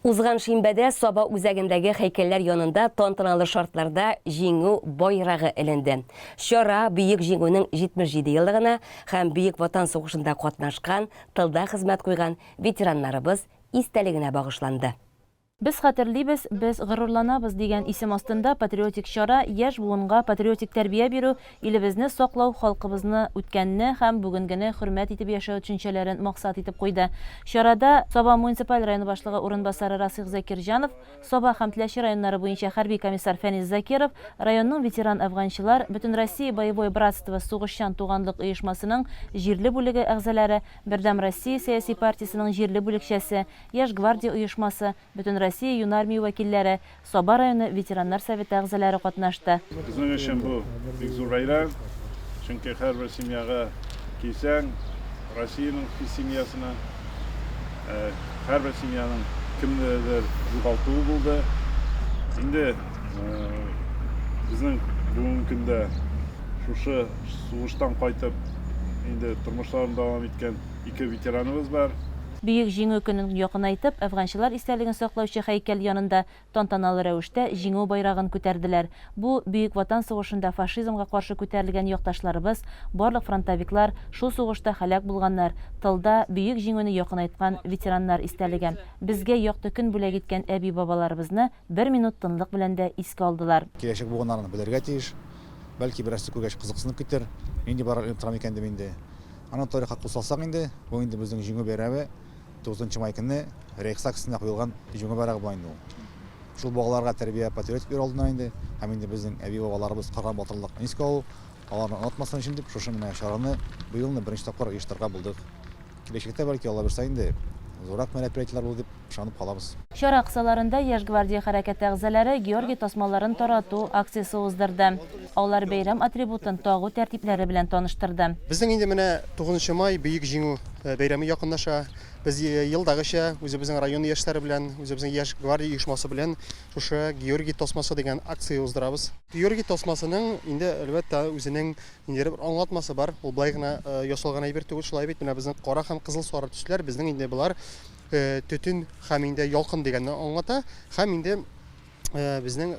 Узган шимбәдә Саба үзәгендәге һәйкәлләр янында тантаналы шартларда Җиңү байрагы эленде. Чара Бөек Җиңүнең 77 еллыгына һәм Бөек Ватан сугышында катнашкан, тылда хезмәт куйган ветераннарыбыз истәлегенә багышланды. Без хәтерлибез, без горурланабыз дигән исем астында патриотик чара яшь буынга патриотик тәрбия бирү, Илебезне саклау, халкыбызны, үткәнне һәм бүгенгене хөрмәт итеп яшәү төшенчәләрен максат итеп куйды. Чарада Саба муниципаль районы башлыгы урынбасары Расыйх Закирҗанов, Саба һәм Теләче районнары буенча хәрби комиссар Фәнис Закиров, районның ветеран әфганчылар, Бөтенроссия боевое братство сугышчан туганлык оешмасының җирле бүлеге әгъзаләре, Бердәм Россия сәяси партиясенең җирле бүлекчәсе, Яшь гвардия оешмасы, Бөтенроссия юнармия вәкилләре, Саба районы ветераннар советы әгъзалары катнашты. Безнең өчен бу бик зур бәйрәм, чөнки һәрбер семьяга килсәң, Россиянең хис семьясына, һәрбер семьяның кемнедер югалтуы булды. Инде безнең бүгенге көндә шушы сугыштан кайтып, инде тормышларын дәвам иткән ике ветераныбыз бар. Бөек Җиңү көнен якынайтып, әфганчылар истәлеген саклаучы һәйкәл янында тантаналы рәвештә Җиңү байрагын күтәрделәр. Бу, Бөек Ватан сугышында фашизмга каршы күтәрелгән якташларыбыз, барлык фронтовиклар, шул сугышта һәлак булганнар, тылда Бөек Җиңүне якынайткан ветераннар истәлеге. Безгә якты көн бүләк иткән әби-бабаларыбызны бер минут тынлык белән дә искә алдылар. Киләчәк буыннар аны белергә тиеш. Бәлки, берәрсе күргәч, кызыксынып китер, нинди байрак илеп торам икән дип инде. Аны тарихка кул салсак инде, бу инде безнең Җиңү бәйрәме, 9 нчы май көне Рейхстаг өстенә куелган Җиңү байрагы була инде ул. Шул балаларга тәрбия патриотик йөр алдына инде һәм инде безнең әби-бабаларыбыз кырган батырлыкны искә алу, аларны онытмасын өчен дип шушы менә чараны быелны беренче тапкыр оештырырга булдык. Киләчәктә, бәлки, Аллабирса инде, зуррак мәрәприятиеләр булыр дип Ышанып калабыз. Чара кысаларында Яшь гвардия хәрәкәте әгъзалары Георгий тасмаларын тарату акциясе уздырды. Алар бәйрәм атрибутын тагу тәртипләре белән таныштырды. Безнең инде менә тугызынчы май, Бөек Җиңү бәйрәме якынлаша. Без елдагыча үзебезнең район яшьләре белән, үзебезнең Яшь гвардия оешмасы белән шушы Георгий тасмасы дигән акция уздырабыз. Георгий тасмасының инде, әлбәттә, үзенең ниндидер бер аңлатмасы бар. Ул болай гына ясалган әйбер түгел, шулай бит? Менә безнең кара һәм кызыл-сары төсләр, безнең инде болар. Төтен һәм инде ялкын дигәнне аңлата. Һәм инде безнең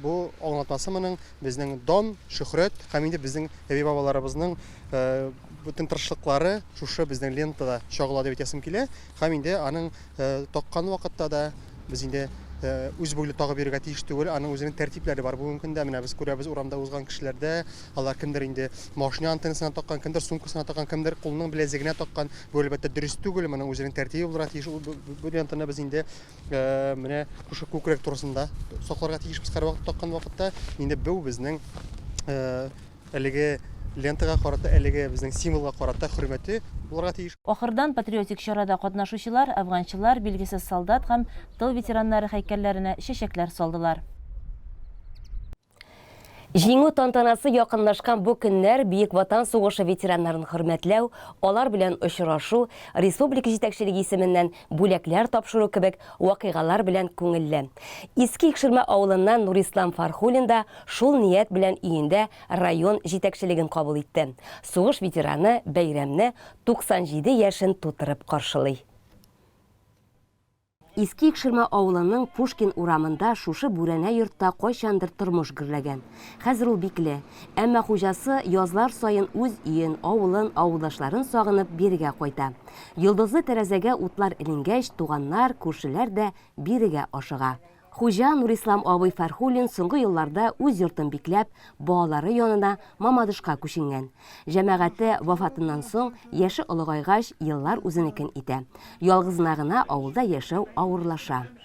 бу аңлатмасы моның безнең дан, шөхрәт һәм инде безнең әби-бабаларыбызның бөтен тырышлыклары шушы безнең лентада чагыла дип әйтәсем килә. Һәм инде аның таккан вакытта да, Без инде үз буйлы тагып йөрергә тиеш түгел, аның үзенең тәртипләре бар бүгенге көндә. Менә без күрәбез урамда узган кешеләрдә, алар кемдер инде машина антеннасына таккан, кемдер сумкасына таккан, кемдер кулының беләзегенә таккан. Бу әлбәттә дөрес түгел, моның үзенең тәртибе булырга тиеш. Ул бу- бу- Бу лентаны без инде э, менә шушы күкрәк турысында сакларга тиешбез һәрвакыт таккан вакытта. Инде бу безнең э, Әлеге лентага карата, әлеге безнең символга карата хөрмәте булырга тиеш. Ахырдан патриотик чарада катнашучылар Әфганчылар, Билгесез солдат һәм Тыл ветераннары һәйкәлләренә чәчәкләр салдылар. Җиңү тантанасы якынлашкан бу көннәр Бөек Ватан сугышы ветераннарын хөрмәтләү, алар белән очрашу, республика җитәкчелеге исеменнән бүләкләр тапшыру кебек вакыйгалар белән күңелле. Иске Икшермә авылыннан Нурислам Фархуллин да шул ният белән өендә район җитәкчелеген кабул итте. Сугыш ветераны бәйрәмне 97 яшен тутырып каршылый. Иске Икшермә авылының Пушкин урамында шушы бүрәнә йортта кайчандыр тормыш гөрләгән. Хәзер ул бикле. Әмма хуҗасы язлар саен үз өен, авылын, авылдашларын сагынып бирегә кайта. Йолдызлы тәрәзәгә утлар эленгәч, туганнар, күршеләр дә бирегә ашыга. Хуҗа Нурислам абый Фәрхуллин соңгы елларда үз йортын бикләп, балалары янына Мамадышка күченгән. Җәмәгате вафатыннан соң, яше олыгайгач, еллар үзенекен итә. Ялгызына гына авылда яшәү авырлаша.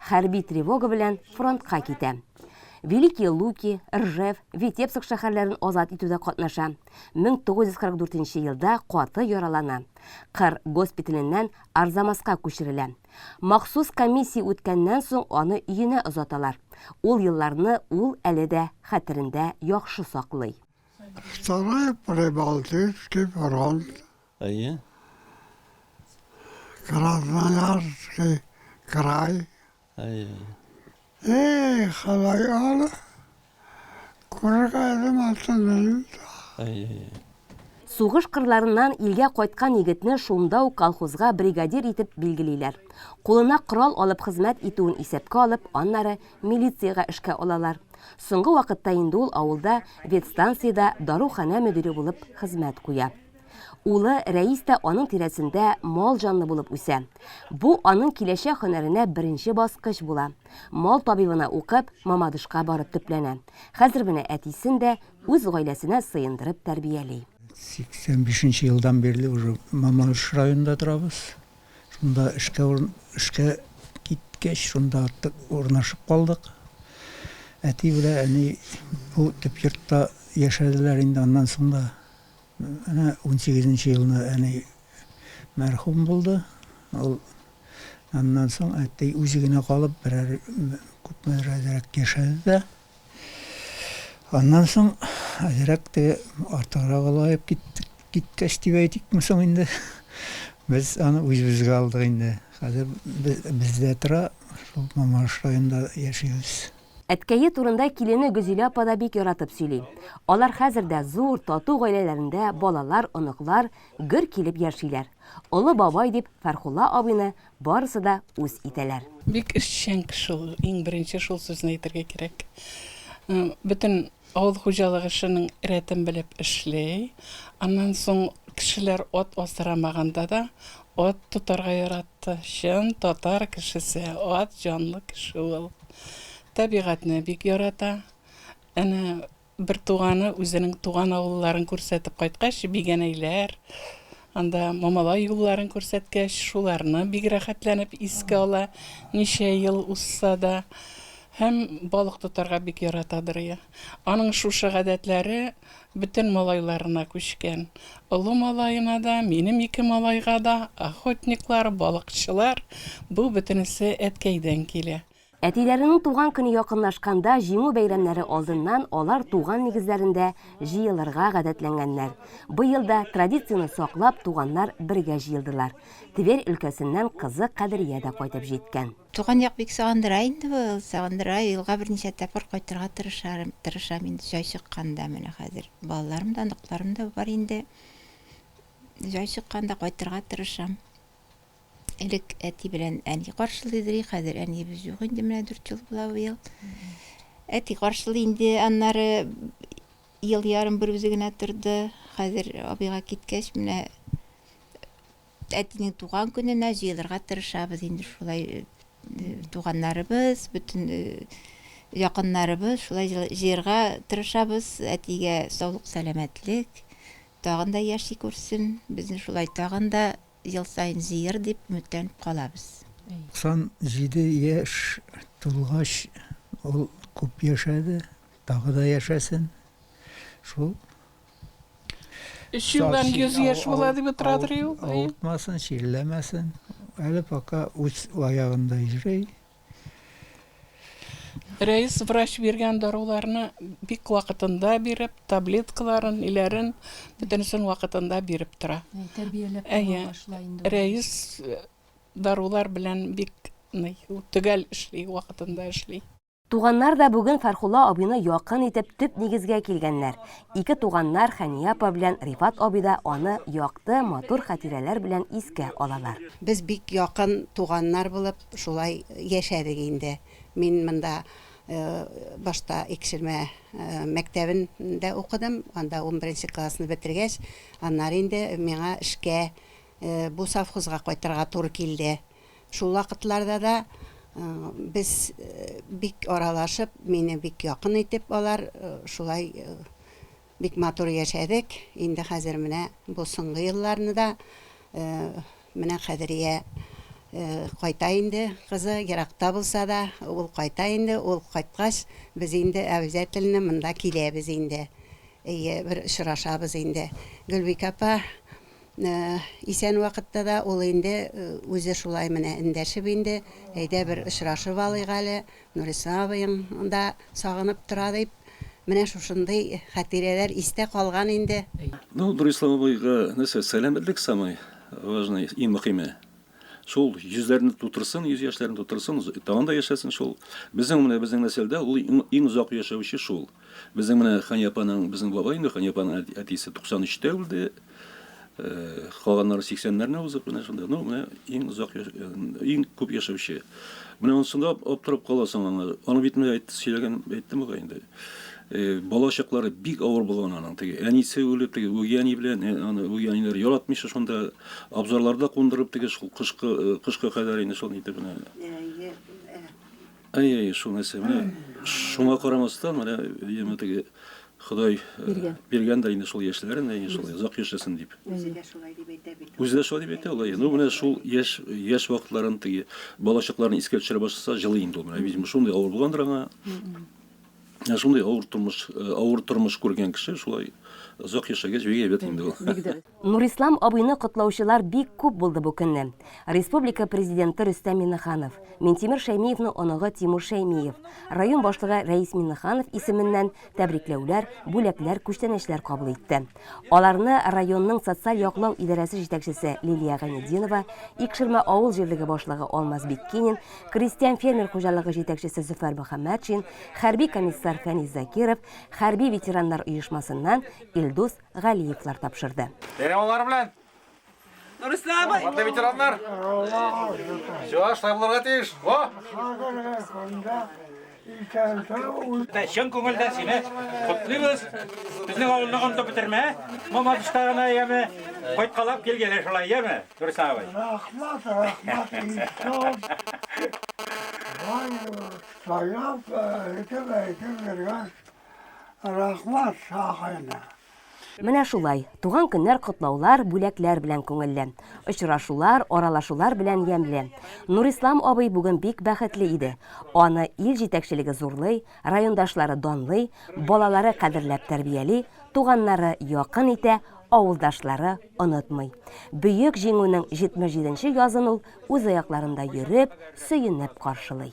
Хәрби тревога белән фронтка китә. Великие Луки, Ржев, Витебск шәһәрләрен азат итүдә катнаша. 1944 елда каты яралана. Кыр госпиталеннән Арзамаска күчерелә. Махсус комиссия үткәннән соң аны өенә озаталар. Ул елларны ул әле дә хәтерендә яхшы саклый. Второй Прибалтийский фронт Әйе. Красноярский край. Әйе. Эй, халай ала. Күргәдем алтынын. Әйе. Сугыш кырларыннан илгә кайткан егетне шунда ук колхозга бригадир итеп билгелиләр. Кулына корал алып хезмәт итүен исәпкә алып, аннары милициягә эшкә алалар. Соңгы вакытта инде ул авылда ветстанциядә даруханә мөдире булып хезмәт куя. Улы Рәис тә аның тирәсендә мал җанлы булып үсә. Бу аның киләчәк һөнәренә беренче баскыч була. Мал табибына укып, Мамадышка барып төпләнә. Хәзер менә әтисен дә үз гаиләсенә сыендырып тәрбияли. 85 нче елдан бирле уже Мамадыш районында торабыз. Шунда эшкә эшкә киткәч, шунда урнашып калдык. Әти белән әни бу төп йортта яшәделәр инде аннан соң да. Менә унсигезенче елны әни мәрхүм булды. Ул аннан соң әти үзе генә калып, берәр күпмедер әзрәк яшәде дә. Аннан соң әзрәк теге артыграк олаеп киттек, киткәч дип әйтикме соң инде, без аны үзебезгә алдык инде. Хәзер без, бездә тора, шул Мамадыш районында яшибез. Әткәе турында килене Гөзилә апа да бик яратып сөйли. Алар хәзер дә зур, тату гаиләләрендә балалар, оныклар гөр килеп яшиләр. Олы бабай дип Фәрхулла абыйны барысы да үз итәләр. Бик эшчән кеше ул, иң беренче шул сүзне әйтергә кирәк. Бөтен Авыл хуҗалык эшенең рәтен белеп эшли. Аннан соң кешеләр ат асрамаганда да ат тотарга яратты. Чын татар кешесе, ат җанлы кеше ул. Табигатьне бик ярата. Әнә бертуганы үзенең туган авылларын күрсәтеп кайткач, бигәнәйләр, Анда Мамалай юлларын күрсәткәч, шуларны бик рәхәтләнеп искә ала, ничә ел узса да. Һәм балык тотарга бик ярата Дырыя. Аның шушы гадәтләре бөтен малайларына күчкән. Олы малаена да, минем ике малайга да, охотниклар, балыкчылар, бу бөтенесе әткәйдән килә. Әтиләренең туган көне якынлашканда, Җиңү бәйрәмнәре алдыннан алар туган нигезләрендә җыелырга гадәтләнгәннәр. Быел да, традицияне саклап, туганнар бергә җыелдылар. Тверь өлкәсеннән кызы Кадрия дә кайтып җиткән. Туган як бик сагындыра инде ул, сагындыра. Елга берничә тапкыр кайтырга тырышарым, тырышам инде, җай чыкканда. Менә хәзер балаларым да, оныкларым да бар инде. Җай чыкканда кайтырга тырышам. Элек әти белән әни каршылый иде, хәзер әниебез юк инде, менә дүрт ел була быел. Әти каршылый инде, аннары ел ярым бер үзе генә торды. Хәзер абыйга киткәч, менә әтинең туган көненә җыелырга тырышабыз инде шулай э, туганнарыбыз, бөтен э, якыннарыбыз шулай җыерга тырышабыз. Әтигә саулык, сәламәтлек, тагын да яши күрсен. Безне шулай тагын да Ел саен җыер дип өметләнеп калабыз. 97 яшь тулгач, ул күп яшәде, тагы да яшәсен. Шул. Өч елдан 100 яшь була дип утырадыр ул. Авыртмасын, чирләмәсен. Әле пока үз аягында йөри. Рәис врач биргән даруларны бик вакытында биреп, таблеткаларын, ниләрен бөтенесен вакытында биреп тора. Тәрбияләп башла инде. Рәис э, дарулар белән бик ный, төгәл эшли, вакытында эшли. Туганнар да бүген Фәрхулла абыйны якын итеп төп нигезгә килгәннәр. Ике туганнар Хәния апа белән Рифат абый да аны якты, матур хатирәләр белән искә алалар. Без бик якын туганнар булып шулай яшәдек инде. Мин монда башта Икшермә мәктәбен дә укыдым, анда унберенче классны бетергәч, аннары инде миңа эшкә бу совхозга кайтырга туры килде. Шул вакытларда да без бик аралашып, мине бик якын итеп алар шулай бик матур яшәдек. Инде хәзер менә бу соңгы елларны да менә Кадрия кайта инде, кызы еракта булса да, ул кайта инде, ул кайткач, без инде әбзәтелне монда киләбез инде. Әйе, бер очрашабыз инде. Гөлбикә апа, Исән вакытта да ул инде үзе шулай менә эндәшеп инде, әйдә бер очрашып алыйк әле, Нуриса абыең да сагынып тора дип, менә шушындый хәтирәләр истә калган инде. Ну, Нуриса абыйга нәрсә, сәламәтлек самый важный, иң мөхиме. Шул йөзләрне тутырсын, йөз яшьләрен тутырсын, тагын да яшәсен шул. Безнең менә безнең нәселдә ул иң озак яшәүче шул. Безнең менә Ханьяпаның, безнең бабай инде Ханьяпаның әтисе 93 тә үлде. Калганнары 80-нәрне узып менә шунда. Ну, менә иң озак иң күп яшәүче. Менә онсында аптырап каласың аңа. Аны бит менә әйтте, сөйләгән, әйтте бугай инде. Бала чаклары бик авыр булган аның. Теге әнисе үлеп, теге үги әни белән, аны үги әниләр яратмыйча шунда абзарларда кундырып, теге шул кышкы, кышка кадәр инде шул итеп менә. Әй, әй, шул нәрсә. Менә шуңа карамастан, менә яме теге Ходай биргән дә инде шул яшьләрен, әй, шул озак яшәсен дип. Үзе дә шулай дип әйтә бит. Үзе дә шулай дип әйтә ул. Ну, менә шул яшь, яшь вакытларын теге бала чакларын искә төшерә башласа, җылый инде ул. Менә, видимо, шундый авыр булгандыр аңа. Ә шундый авыр тормыш, э, авыр тормыш күргән кеше шулай озак яшәгәч бик әйбәт инде ул. Нурислам абыйны котлаучылар бик күп булды бу көнне. Республика президенты Рөстәм Миннеханов, Минтимер Шәймиевның оныгы Тимур Шәймиев, район башлыгы Рәис Миннеханов исеменнән тәбрикләүләр, бүләкләр, күчтәнәчләр кабул итте. Аларны районның социаль яклау идарәсе җитәкчесе Лилия Гайнединова, Икшермә авыл җирлеге башлыгы Алмаз Биккинин, крестьян-фермер хуҗалыгы җитәкчесе Зөфәр Мөхәммәтшин, хәрби комиссар Фәнис Закиров, хәрби ветераннар оешмасыннан Илдус Галиевлар тапшырды. Бәйрәм аллары белән! Нурислам! Матта ветераннар! Все, шулай булырга тиеш. Во! Чын күңелдән сине котлыйбыз. Безнең авылны онытып бетермә. Мама тыштагына яме. Кайткалап кил генә шулай, яме? Дөрес абый. Рәхмәт, рәхмәт. Сайлап, әйтеп, әйтеп биргән. Рәхмәт, сагайна. Менә шулай, туган көннәр котлаулар, бүләкләр белән күңелле. Очрашулар, аралашулар белән ямьле. Нурислам абый бүген бик бәхетле иде. Аны ил җитәкчелеге зурлый, райондашлары данлый, балалары кадерләп тәрбияли, туганнары якын итә, авылдашлары онытмый. Бөек Җиңүнең 77 нче язын ул үз аякларында йөреп, сөенеп каршылый.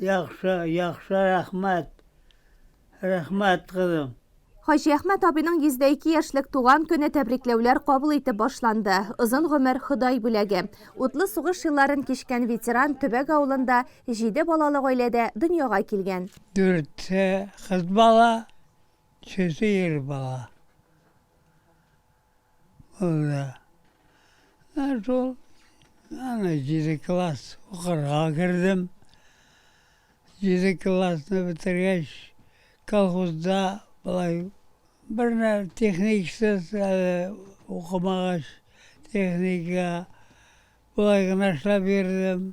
Яхшы, яхшы, рәхмәт. Рәхмәт, кызым. Хаҗиәхмәт абыйның 102 яшьлек туган көне тәбрикләүләр кабул итеп башланды. Озын гомер, Ходай бүләге. Утлы сугыш елларын кичкән ветеран Төбәк авылында, җиде балалы гаиләдә дөньяга килгән. Дүртсе кыз бала, өчесе ир бала. Булды. Ә шул, аны җиде класс укырга кердем. Җиде классны бетергәч, колхозда былай бернә техниксыз әле укымагач, техника былай гына эшләп йөрдем.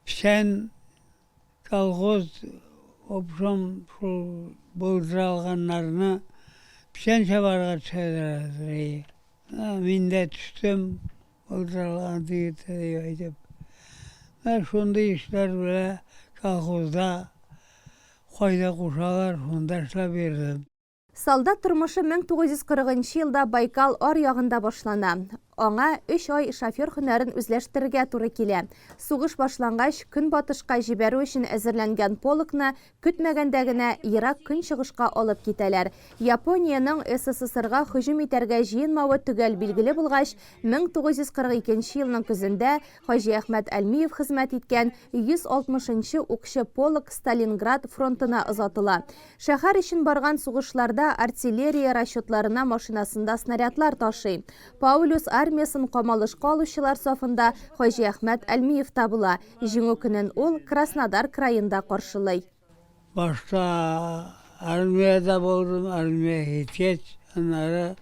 Печән Колхоз, обжом шул булдыралганнарны печән чабарга төшәләр иде. Мин дә төштем, булдыралган дигәндә дип әйтеп. Менә шундый эшләр белән колхозда кайда кушалар, шунда эшләп йөрдем. Солдат тормышы 1940 нчы елда Байкал ар ягында башлана. Аңа өч ай шофер һөнәрен үзләштерергә туры килә. Сугыш башлангач, Көнбатышка җибәрү өчен әзерләнгән полкны көтмәгәндә генә Ерак Көнчыгышка алып китәләр. Япониянең СССРга һөҗүм итәргә җыенмавы төгәл билгеле булгач, 1942 елның көзендә Хаҗи Әхмәт Әлмиев хезмәт иткән 160 нчы укчы полк Сталинград фронтына озатыла. Шәһәр өчен барган сугышларда артиллерия расчетларына машинасында снарядлар ташый. Паулюс армиясен камалышка алучылар сафында Хаҗи Әхмәт Әлмиев та була. Җиңү көнен ул Краснодар краенда каршылый. Башта армиядә булдым, армия һиткәч, аннары.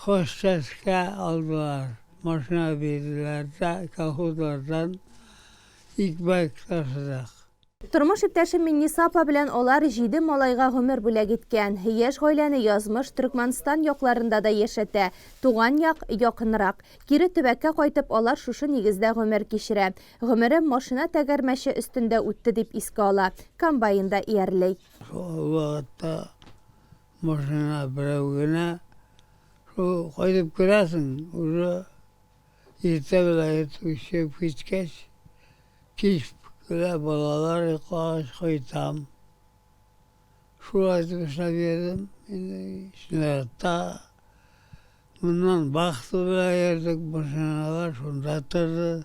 Хозчәскә алдылар, машина бирделәр дә колхозлардан икмәк ташыдык. Тормыш иптәшем Минниса апа белән алар җиде малайга гомер бүләк иткән. Яшь гаиләне язмыш Төркмәнстан якларында да яшәтә. Туган як, якынрак. Кире төбәккә кайтып, алар шушы нигездә гомер кичерә. Гомерем машина тәгәрмәче өстендә үтте, дип искә ала. Комбайнда иярли. Шул вакытта Машина берәү генә. Шул кайтып керәсең, уже иртә белән иртүк чыгып киткәч, кич кенә балалар йоклагач кайтам. Шулай итеп эшләп йөрдем. Инде снарядта моннан вахта белән йөрдек, машиналар шунда торды.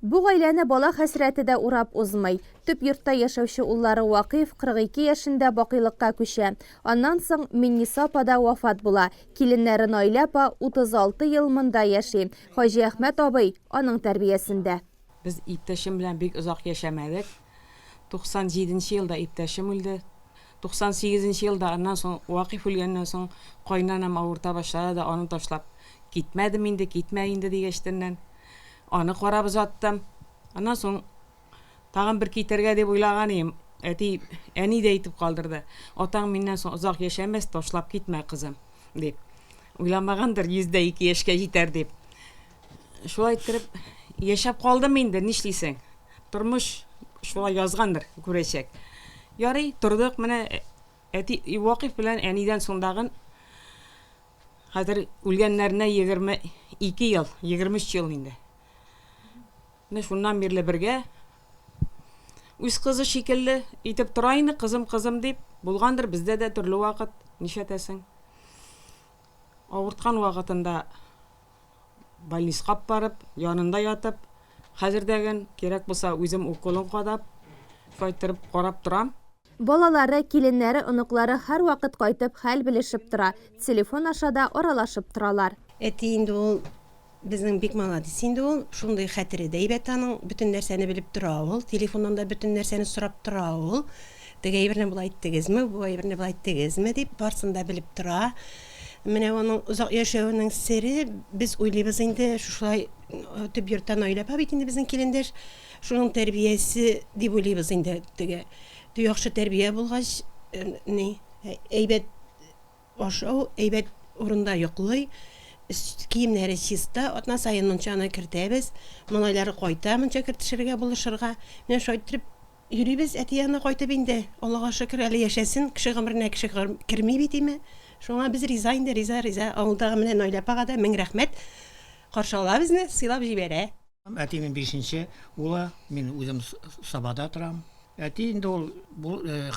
Бу гаиләне бала хәсрәте дә урап узмый. Төп йортта яшәүче уллары Вакыйф 42 яшендә бакыйлыкка күчә. Аннан соң Минниса апа да вафат була. Киленнәре Наилә апа 36 ел монда яши. Хаҗиәхмәт абый аның тәрбиясендә. Без иптәшем белән бик озак яшәмәдек. 97 нче елда иптәшем үлде. 98 нче елда, аннан соң, Вакыйф үлгәннән соң, кайнанам авырта башлады да аны ташлап китмәдем инде, китмә инде дигәчтеннән. Аны карап озаттым. Аннан соң тагын бер китәргә дип уйлаган идем. Әти, әни дә әйтеп калдырды, Атаң миннән соң озак яшәмәс, ташлап китмә, кызым, дип. Уйламагандыр, 102 яшькә җитәр дип. Шулай иттереп, яшәп калдым инде, нишлисең. Тормыш шулай язгандыр, күрәчәк. Ярый, тордык, менә әти, Вакыйф белән әнидән соң тагын Хәзер үлгәннәренә егерме ике ел, егерме өч ел инде. Менә шуннан бирле бергә. Үз кызы шикелле итеп тора инде, кызым, кызым дип. Булгандыр бездә дә төрле вакыт, нишләтәсең. Авырткан вакытында Больниска ап барып, янында ятып, хәзердәген, кирәк булса, үзем уколын кадап, кайтырып карап торам. Балалары, киленнәре, оныклары һәрвакыт кайтып, хәл белешеп тора, телефон аша да аралашып торалар. Әти инде ул безнең бик маладис инде ул, шундый хәтере дә әйбәт аның, бөтен нәрсәне белеп тора ул, телефоннан да бөтен нәрсәне сорап тора ул. Теге әйберне болай иттегезме, бу әйберне болай иттегезме, дип, барысын да белеп тора. Менә аның озак яшәвенең сере, без уйлыйбыз инде, шушылай төп йорттан Наилә апа бит инде безнең килендәш, шуның тәрбиясе дип уйлыйбыз инде. Теге яхшы тәрбия булгач, ни, әйбәт Ашау әйбәт урында йоклый, өст киемнәре чиста, атна саен мунчаны кертәбез. Малайлары кайта мунча кертешергә, булышырга. Менә шулай иттереп йөрибез әти янына кайтып инде. Аллага шөкер, әле яшәсен, кеше гомеренә кеше керми бит име. Шуңа без риза инде, риза, риза. Авылдагы менә Наилә апага да мең рәхмәт, каршы ала безне, сыйлап җибәрә. Әтинең бишенче улы, мин үзем Сабада торам. Әти инде ул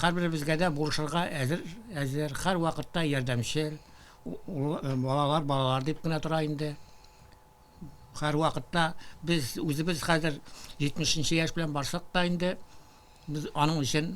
һәрберебезгә дә булышырга әзер, һәрвакытта ярдәмчел. Балалар, балалар дип кенә тора инде. Һәрвакытта без үзебез хәзер 70 нче яшь белән барсак та инде, без аның өчен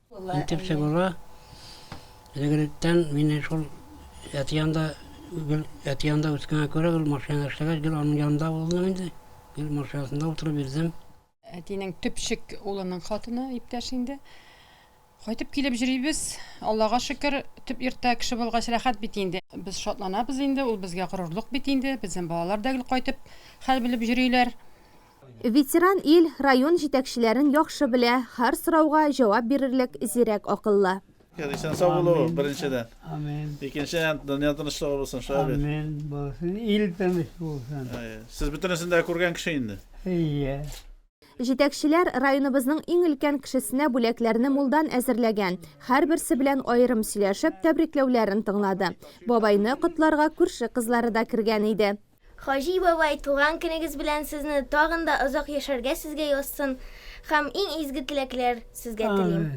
Итеп чыгуга, элегректән мине шул әти янында, гел әти янында үскәнгә күрә, гел машинада эшләгәч, гел аның янында булдым инде. Гел машинасында утырып йөрдем. Әтинең төпчек улының хатыны, иптәш инде. Кайтып килеп җөрибез. Аллага шөкер, төп йортта кеше булгач рәхәт бит инде. Без шатланабыз инде, ул безгә горурлык бит инде. Безнең балалар да гел кайтып хәл белеп җөриләр. Ветеран ил район җитәкчеләрен яхшы белә, һәр сорауга җавап бирерлек зирәк акыллы. Исән сау булу беренчедән. Амин. Икенчедән дөнья тынычлыгы булсын, шулай бит? Амин булсын, ил тыныч булсын. Сез бөтенесен дә күргән кеше инде. Әйе. Җитәкчеләр районыбызның иң өлкән кешесенә бүләкләрне мулдан әзерләгән. Һәрберсе белән аерым сөйләшеп, тәбрикләүләрен тыңлады. Бабайны котларга күрше кызлары да кергән иде. Хаҗи бабай, туган көнегез белән сезне, тагын да озак яшәргә сезгә язсын, һәм иң изге теләкләр сезгә телим.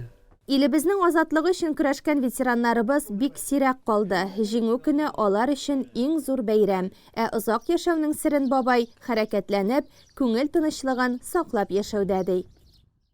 Илебезнең азатлыгы өчен көрәшкән ветераннарыбыз бик сирәк калды, Җиңү көне алар өчен иң зур бәйрәм. Ә озак яшәүнең серен бабай, хәрәкәтләнеп, күңел тынычлыгын саклап яшәүдә, ди.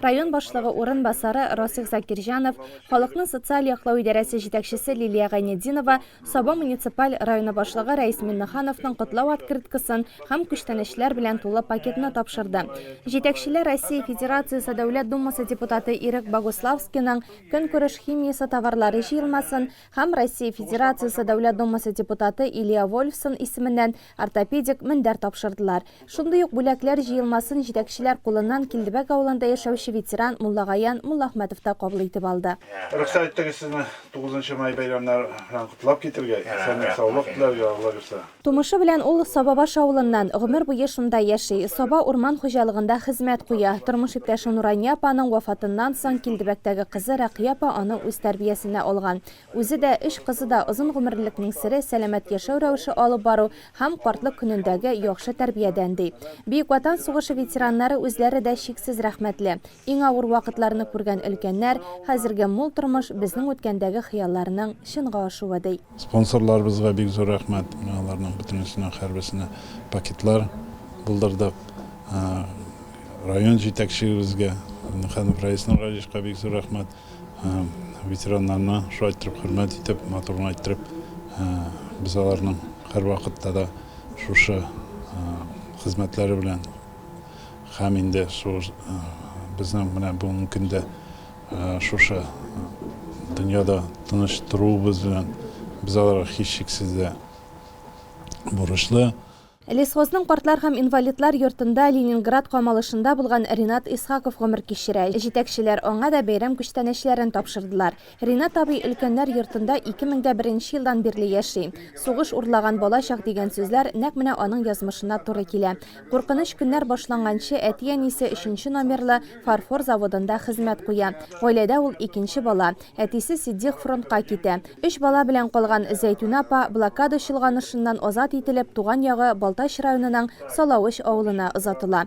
Район башлыгы урынбасары Расих Закирҗанов, халыкны социаль яклау идарәсе җитәкчесе Лилия Гайнетдинова Саба муниципаль районы башлыгы Рәис Миннехановның котлау открыткасын һәм күчтәнәчләр белән тулы пакетны тапшырды. Җитәкчеләр Россия Федерациясе Дәүләт Думасы депутаты Ирек Богуславскийның көнкүреш химиясе товарлары җыелмасын һәм Россия Федерациясе Дәүләт Думасы депутаты Илья Вольфсон исеменнән ортопедик мендәр тапшырдылар. Шундый ук бүләкләр җыелмасын җитәкчеләр кулыннан Килдебәк авылында яшәүче ветеран Муллагаян Муллахмәтов та кабул итеп алды. Рөхсәт итегез сезне тугызынчы май бәйрәмнәр белән котлап китергә, исәнлек-саулык теләргә, Алла бирса. Тумышы белән ул Сабабаш авылыннан, гомер буе шунда яши. Саба урман хуҗалыгында хезмәт куя. Тормыш иптәше Нурания апаның вафатыннан соң Килдебәктәге кызы Рәкыя апа аны үз тәрбиясенә алган. Үзе дә, өч кызы да озын гомерлекнең сере, сәламәт яшәү рәвеше алып бару һәм картлык көнендәге яхшы тәрбиядән, ди. Бөек Ватан сугышы ветераннары үзләре дә чиксез рәхмәтле. Иң авыр вакытларны күргән өлкәннәр, Хәзерге мул тормыш безнең үткәндәге хыялларның чынга ашуы, ди. Спонсорларыбызга бик зур рәхмәт. Менә аларның бөтенесенә һәрберсенә пакетлар булдырдык. Район җитәкчегебезгә, Миннеханов Раис Нургалиевичка бик зур рәхмәт. Ветераннарны шулай иттереп хөрмәт итеп, матур гына иттереп, без аларның һәрвакытта да шушы хезмәтләре белән, Һәм инде шул безнең менә бүгенге көндә шушы дөньяда тыныч торуыбыз белән без аларга һичшиксез дә бурычлы. Лесхозның картлар һәм инвалидлар йортында Ленинград камалышында булган Ринат Исхаков гомер кичерә. Җитәкчеләр аңа да бәйрәм күчтәнәчләрен тапшырдылар. Ринат абый өлкәннәр йортында ике мең дә беренче елдан бирле яши. Сугыш урлаган балачак дигән сүзләр нәкъ менә аның язмышына туры килә. Куркыныч көннәр башланганчы әти-әнисе өченче номерлы фарфор заводында хезмәт куя. Гаиләдә ул икенче бала. Әтисе Ситдих фронтка китә. Өч бала белән калган Зәйтүнә апа, блокада чолганышыннан азат ителеп, туган ягы Балтач районының Салавыч авылына озатыла.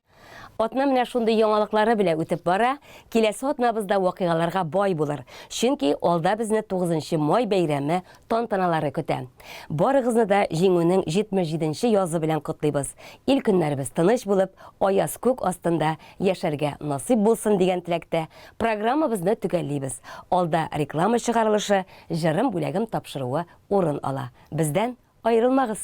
Атна менә шундый яңалыклары белән үтеп бара. Киләсе атнабыз да вакыйгаларга бай булыр. Чөнки алда безне 9 май бәйрәме тантаналары көтә. Барыгызны да Җиңүнең 77 нче язы белән котлыйбыз. Ил көннәребез тыныч булып, аяз күк астында яшәргә насыйп булсын дигән теләктә, программабызны төгәллибез. Алда реклама чыгарылышы, җырым бүләгем тапшыруы урын ала. Бездән аерылмагыз!